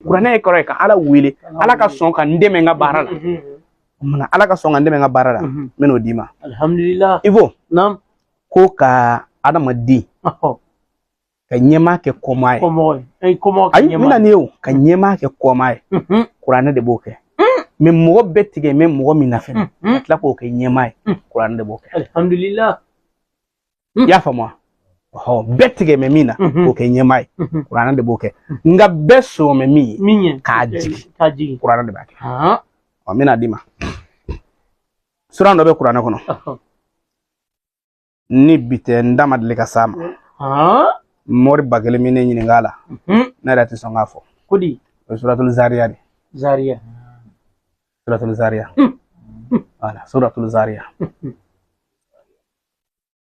kuranɛ ye kɔrɔ ye ka ala wele ala ka sɔn ka n dɛmɛ n ka baara la munna ala ka sɔn ka n dɛmɛ n ka baara la n bɛ n'o d'i ma alihamudulila ivo ko ka adamaden ka ɲɛmaa kɛ kɔmaa ye ayi n bɛna n'i ye o ka ɲɛmaa kɛ kɔmaa ye kuranɛ de b'o kɛ mais mɔgɔ bɛɛ tigɛ mɛ mɔgɔ min na fɛnɛ ka tila k'o kɛ ɲɛmaa ye kuranɛ de b'o kɛ alihamudulila i y'a faamu wa ɔ bɛɛ tigɛ mɛ min na k'o kɛ ɲɛmaa ye kuranɛ de b'o kɛ nka bɛɛ sɔn mɛ min ye k'a jigin kuranɛ de b'a kɛ ɔ n bɛna d'i ma suran dɔ bɛ kuranɛ kɔnɔ ni bi tɛ n da ma deli ka s'a ma mɔriba kelen min ne ɲininka a la ne yɛrɛ tɛ sɔn k'a fɔ o ye suratul zariya de zariya suratul zariya voilà suratul zariya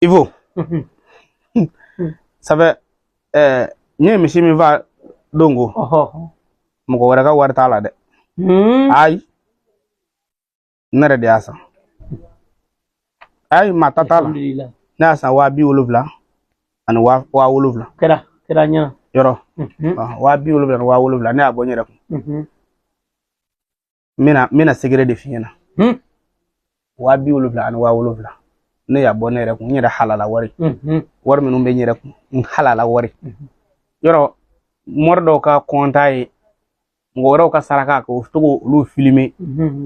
ivo sabu ɛɛ n ye misi min fa don ko mɔgɔ wɛrɛ ka wari t'a la dɛ hmm. ayi ne yɛrɛ de y'a san ayi maa ta t'a la ne y'a san waa bi wolonwula ani waa waa wolonwula kɛra kɛra ɲɛ yɔrɔ waa bi wolonwula ni waa wolonwula ne y'a bɔ n yɛrɛ kun n bɛna n bɛna secret de f'i ɲɛna hmm. waa bi wolonwula ani waa wolonwula ne y'a bɔ ne yɛrɛ kun n yɛrɛ halala wari hmm, hmm. wari minnu bɛ n yɛrɛ kun n halala wari yɔrɔ mɔri dɔw ka kɔnta ye mɔgɔ wɛrɛw ka saraka k'o to k'olu filmer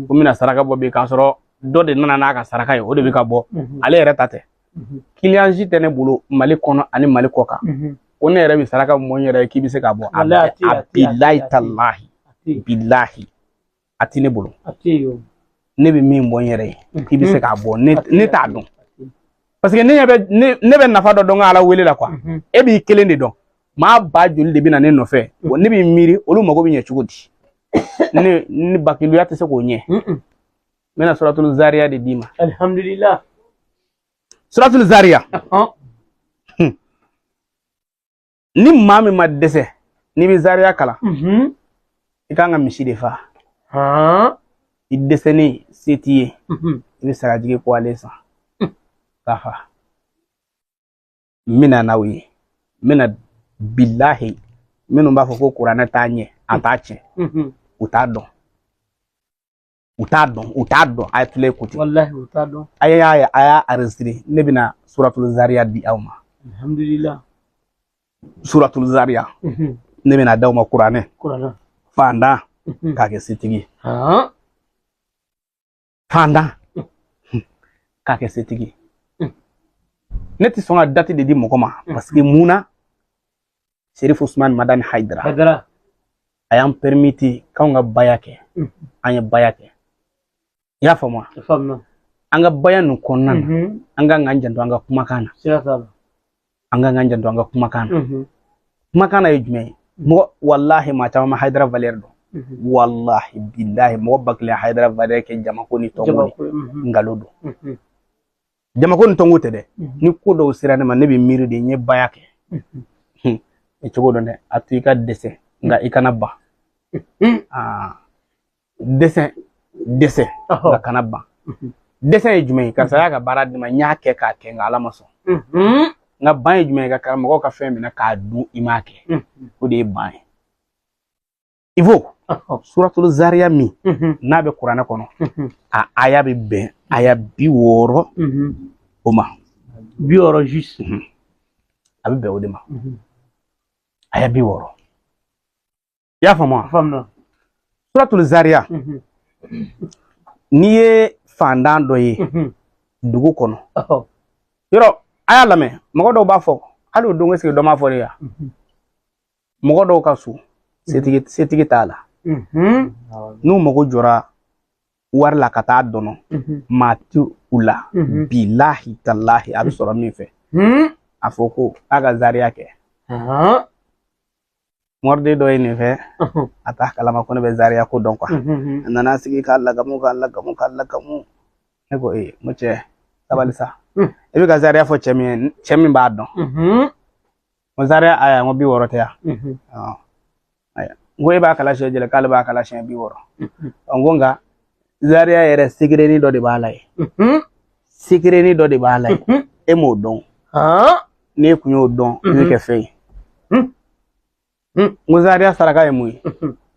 ko n bɛna saraka bɔ bi k'a sɔrɔ dɔ de nana n'a ka saraka ye o de bɛ ka bɔ ale yɛrɛ ta tɛ mhm. client si tɛ ne bolo mali kɔnɔ ani mali kɔkan mhm. ko ne yɛrɛ bɛ saraka min bɔ n yɛrɛ ye k'i bɛ se k'a bɔ a bilahi talahi bilahi a tɛ ne bolo ne bɛ min bɔ n yɛrɛ ye mhm. k'i bɛ se k'a bɔ ne t'a dɔn parce que ne bɛ ne bɛ nafa dɔ dɔn ka ala wele la quoi e b'i kelen de dɔn maaba joli de bɛ na ne nɔfɛ ne b'i miiri olu mago bɛ ɲɛ cogo di ne ne bakiluya tɛ se k'o ɲɛ n bɛna suratul zariya de d'i ma alhamdulillah suratul zariya hmm. ni maa min ma dɛsɛ n'i bɛ zariya kalan mhm. i kan ka misi de fa i dɛsɛlen se t'i ye mhm. i bɛ sagajigi kɔgɔlen san hmm. k'a fa n bɛna n'aw ye n bɛna bilahi minnu b'a fɔ ko kuranɛ t'a ɲɛ a t'a tiɲɛ u t'a dɔn u t'a dɔn u t'a dɔn a ye tile écouter walahi u t'a dɔn a y'a ye a y'a enregistrer ne bɛna suratul zariya di aw ma alhamdulilah suratul zariya mhm. ne bɛna d'aw ma kuranɛ kuranɛ fandan mhm. k'a kɛ setigi fandan mhm. k'a kɛ setigi ne tɛ sɔn ka dati de di mɔgɔ ma parce que mun na serif usman madani haidara haidara a y'an perimiti k'anw ka baya kɛ an ye baya kɛ i y'a faamu an ka baya nin kɔnɔna na an ka k'an janto an ka kumakan na an ka k'an janto an ka kumakan na kumakan na ye jumɛn ye mɔgɔ walahi maa caman ma haidara valɛri dɔn walahi bilahi mɔgɔ ba kelen haidara valɛri kɛ jamako ni tɔnko nkalon don jamako ni tɔnko tɛ dɛ mhm. ni ko dɔw sera ne ma ne bɛ miiri de n ye baya kɛ mhm. e cogo dɔn dɛ a to i ka dɛsɛ nka i kana ban mhm. ah. dɛsɛ dɛsɛ nka kana ban dɛsɛ ye jumɛn ye karisa y'a ka baara di n ma n y'a kɛ k'a kɛ nka ala ma sɔn nka ban ye jumɛn ye ka karamɔgɔw ka fɛn minɛ k'a dun i m'a kɛ o de ye ban ye i b'o suratulu zariya min n'a bɛ kuranɛ kɔnɔ a aya bɛ bɛn aya bi wɔɔrɔ o ma bi wɔɔrɔ a bɛ bɛn o de ma aya bi wɔɔrɔ i y'a faamu a faamu na suratulu zariya n'i ye fandan dɔ ye dugu kɔnɔ yɔrɔ a y'a lamɛn mɔgɔ dɔw b'a fɔ hali o don eseke dɔ m'a fɔ de ya mɔgɔ dɔw ka so setigi setigi t'a la n'u mago jɔra wari la ka taa dɔnɔ maa ti u la bilahi talahi a bɛ sɔrɔ min fɛ a fɔ ko a ka zariya kɛ moriden dɔ ye nin fɛ a t'a kalama ko ne bɛ zariya ko dɔn kuwa a nana sigi k'a lagamu k'a lagamu k'a lagamu ne ko ee n ko cɛ sabali sa i bɛ ka zariya fɔ cɛ min ye cɛ min b'a dɔn n ko zaria aya n ko bi wɔɔrɔ tɛ yan n ko e b'a kalan siɲɛ jɛli k'ale b'a kalan siɲɛ bi wɔɔrɔ n ko nka zaria yɛrɛ segerenin dɔ de b'a la ye segerenin dɔ de b'a la ye e m'o dɔn n'e kun y'o dɔn i bɛ kɛ fɛn ye n ko zaria saraka ye mun ye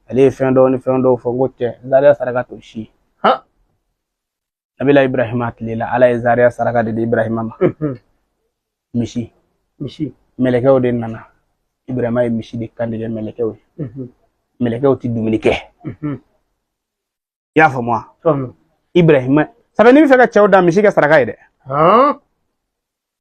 ale ye fɛn dɔw ni fɛn dɔw fɔ n ko cɛ zaria saraka t'o si ye nabila ibrahima tile la ala ye zaria saraka de di ibrahima ma misi misi mɛlɛkɛw de nana ibrahima ye misi de kantigɛ mɛlɛkɛw ye mɛlɛkɛw ti dumuni kɛ i y'a faamu wa ibrahima sabu n'i bɛ fɛ ka cɛw da misi kɛ saraka ye dɛ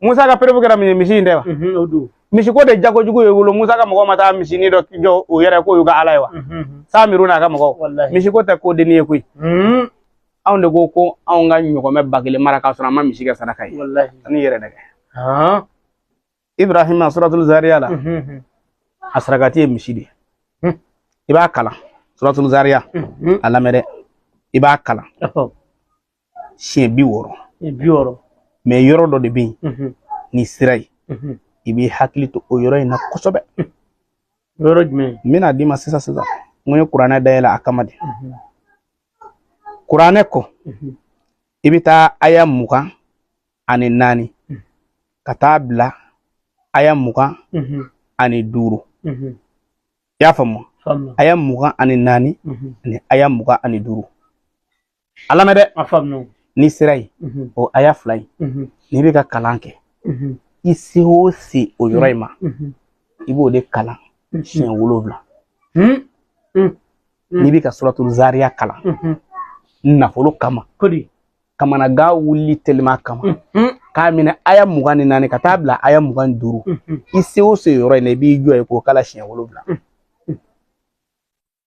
Musa ka perebu kɛra min misi in tɛ wa misi ko de jago jugu ye wolo Musa ka mɔgɔw ma taa misinin dɔ jɔ u yɛrɛ k'o y'u ka ala ye wa samiru n'a ka mɔgɔw misi ko tɛ ko dennin ye koyi anw de ko ko anw ka ɲɔgɔmɛ ba kelen mara k'a sɔrɔ an ma misi kɛ saraka ye ani yɛrɛ nɛgɛ ibrahima suratul zariya la a sarakati ye misi de ye i b'a kalan suratul zariya a lamɛn dɛ i b'a kalan siɲɛ bi wɔɔrɔ mɛ yɔrɔ dɔ de bɛ yen mhm. n'i sera yen mhm. i b'i hakili to o yɔrɔ in na kosɛbɛ yɔrɔ jumɛn n bɛna d'i ma sisan sisan n ko n ye kuranɛ dayɛlɛ a kama de mhm. kuranɛ kɔ i bɛ taa aya mugan ani naani ka taa bila aya mugan ani duuru i y'a faamu aya mugan ani naani ani aya mugan ani duuru a lamɛn dɛ a faamuya n'i sera yen o aya fila ye n'i bɛ ka kalan kɛ i se o se o yɔrɔ in ma i b'o de kalan siɲɛ wolonwula n'i bɛ ka suratu zariya kalan nafolo kama kamanagan wuli teliman kama k'a minɛ aya mugan ni naani ka taa bila aya mugan ni duuru i se o se yɔrɔ in na i b'i jɔ yen k'o kalan siɲɛ wolonwula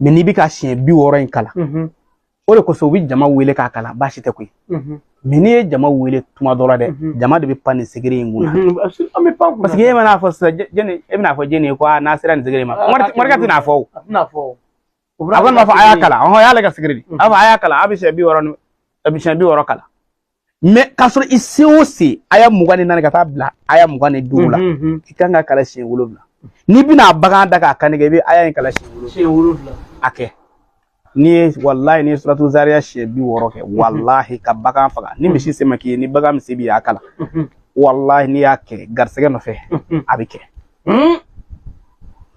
mɛ n'i bɛ ka siɲɛ bi wɔɔrɔ in kalan o de kosɔn u bɛ jama wele k'a kalan baasi tɛ koyi mɛ n'i ye jama wele tuma dɔ la dɛ jama de bɛ pan nin secret in kunna paseke e mana fɔ sisan jɛni e bɛna fɔ jɛni ye ko n'a sera nin secret ma morikɛ tɛna fɔ o a kɔni b'a fɔ a y'a kalan ɔhɔn a y'ale ka secret de a b'a fɔ a y'a kalan a bɛ siɲɛ bi wɔɔrɔ ni a bɛ siɲɛ bi wɔɔrɔ kalan mɛ k'a sɔrɔ i se o se aya mugan ni naani ka taa bila aya mugan ni duuru la i kan k'a kalan siɲɛ wolonwula n'i bɛna bagan da k'a kan tigɛ i bɛ aya in kalan siɲɛ wolonwula a kɛ n'i ye walayi n'i ye suratu zariya siɲɛ bi wɔɔrɔ kɛ walahi ka bagan faga ni misi se ma k'i ye ni bagan min se b'i ye a kalan walahi n'i y'a kɛ garisɛgɛ nɔfɛ a bɛ kɛ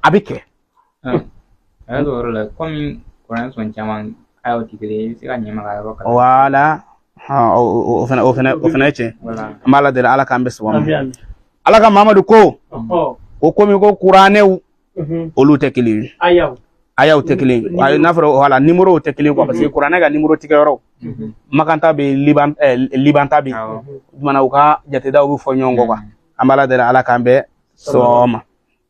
a bɛ kɛ A y'a yɔrɔ la kɔmi kuran sɔn caman ayaw tigɛ i bɛ se ka ɲɛma yɔrɔ kan wala o fana ye tiɲɛ an b'ala deli ala k'an bɛɛ sɔn ala ka mamadu ko o komi ko kuranɛw olu tɛ kelen ye ayaw tɛ kelen ye n'a fɔra wala numéro tɛ kelen parce que kuranɛ ka numéro tigɛ yɔrɔ makan ta bɛ liban ta bɛ yen u ka jatedaw bɛ fɔ ɲɔgɔn kɔ an b'ala deli ala k'an bɛɛ sɔn a ma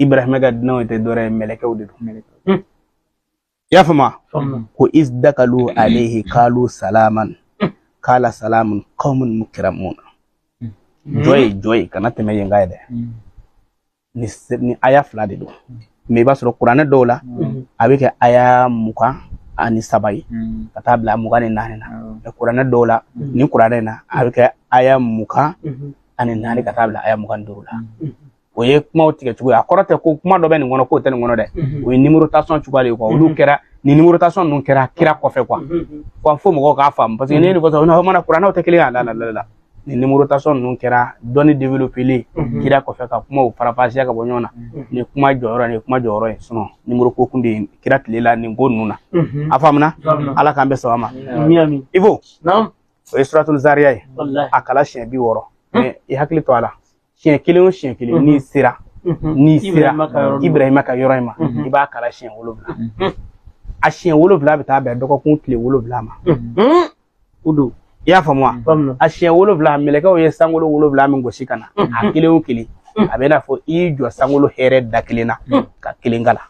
ibrahima ka dunanw tɛ dɔwɛrɛ ye mɛlɛkɛw de don hmm. i y'a faamu ko iz dakalu alehi kalu salaman hmm. kala salamun qaumun mukramun hmm. jɔ yen jɔ yen kana tɛmɛ yen kan dɛ nin aya fila de don mɛ i b'a sɔrɔ kuranɛ dɔw la a bɛ kɛ aya mugan ani saba ye ka taa bila mugan ni naani na mɛ kuranɛ dɔw la nin kuranɛ na a bɛ kɛ aya mugan ani naani ka taa bila aya mugan ni duuru la o ye kumaw tigɛ cogo ye a kɔrɔ tɛ ko kuma dɔ bɛ nin kɔnɔ k'o tɛ nin kɔnɔ dɛ o ye nimorotasɔn cogoya de ye kuwa olu kɛra ni nimorotasɔn ninnu kɛra kira kɔfɛ kuwa kuwa fo mɔgɔw k'a faamu paseke ne ye nin fɔ sisan n'aw mana kuranɛw tɛ kelen y'a la la la ni nimorotasɔn ninnu kɛra dɔnni developelen kira kɔfɛ ka kumaw farafasiya ka bɔ ɲɔgɔn na nin kuma jɔyɔrɔ nin kuma jɔyɔrɔ ye sinɔn nimoro ko tun tɛ yen kira tile la nin ko ninnu na a faamuna ala k'an bɛɛ sɔn a ma i fo o ye suratul zariya ye a kalan siɲɛ bi wɔɔrɔ i hakili to a la siɲɛ kelen o siɲɛ kelen n'i sera n'i sera ibrahima ka yɔrɔ in ma i b'a kalan siɲɛ wolonwula a siɲɛ wolonwula bɛ taa bɛn dɔgɔkun tile wolonwula ma o don i y'a faamu wa a siɲɛ wolonwula mɛlɛkɛw ye sankolo wolonwula min gosi ka na a kelen o kelen a bɛ n'a fɔ i y'i jɔ sankolo hɛrɛ da kelen na ka kelen kalan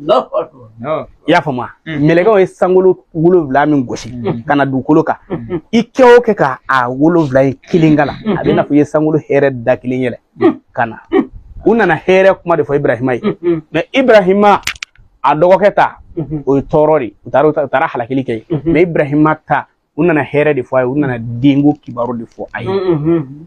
i y'a faamu mm. mɛlɛkɛw ye sankolo wolonwula min gosi mm. ka na dugukolo kan mm. i kɛ o kɛ ka a wolonwula in kelen kalan a bɛ n'a fɔ i ye sankolo hɛrɛ da kelen yɛlɛ ka na u nana hɛrɛ kuma de fɔ ibrahima ye mɛ ibrahima a dɔgɔkɛ ta mm-hmm. o ye tɔɔrɔ de u taara u taara halakili kɛ mm-hmm. mɛ ibrahima ta u nana hɛrɛ de fɔ a ye u nana denko kibaru de fɔ a ye mm-hmm.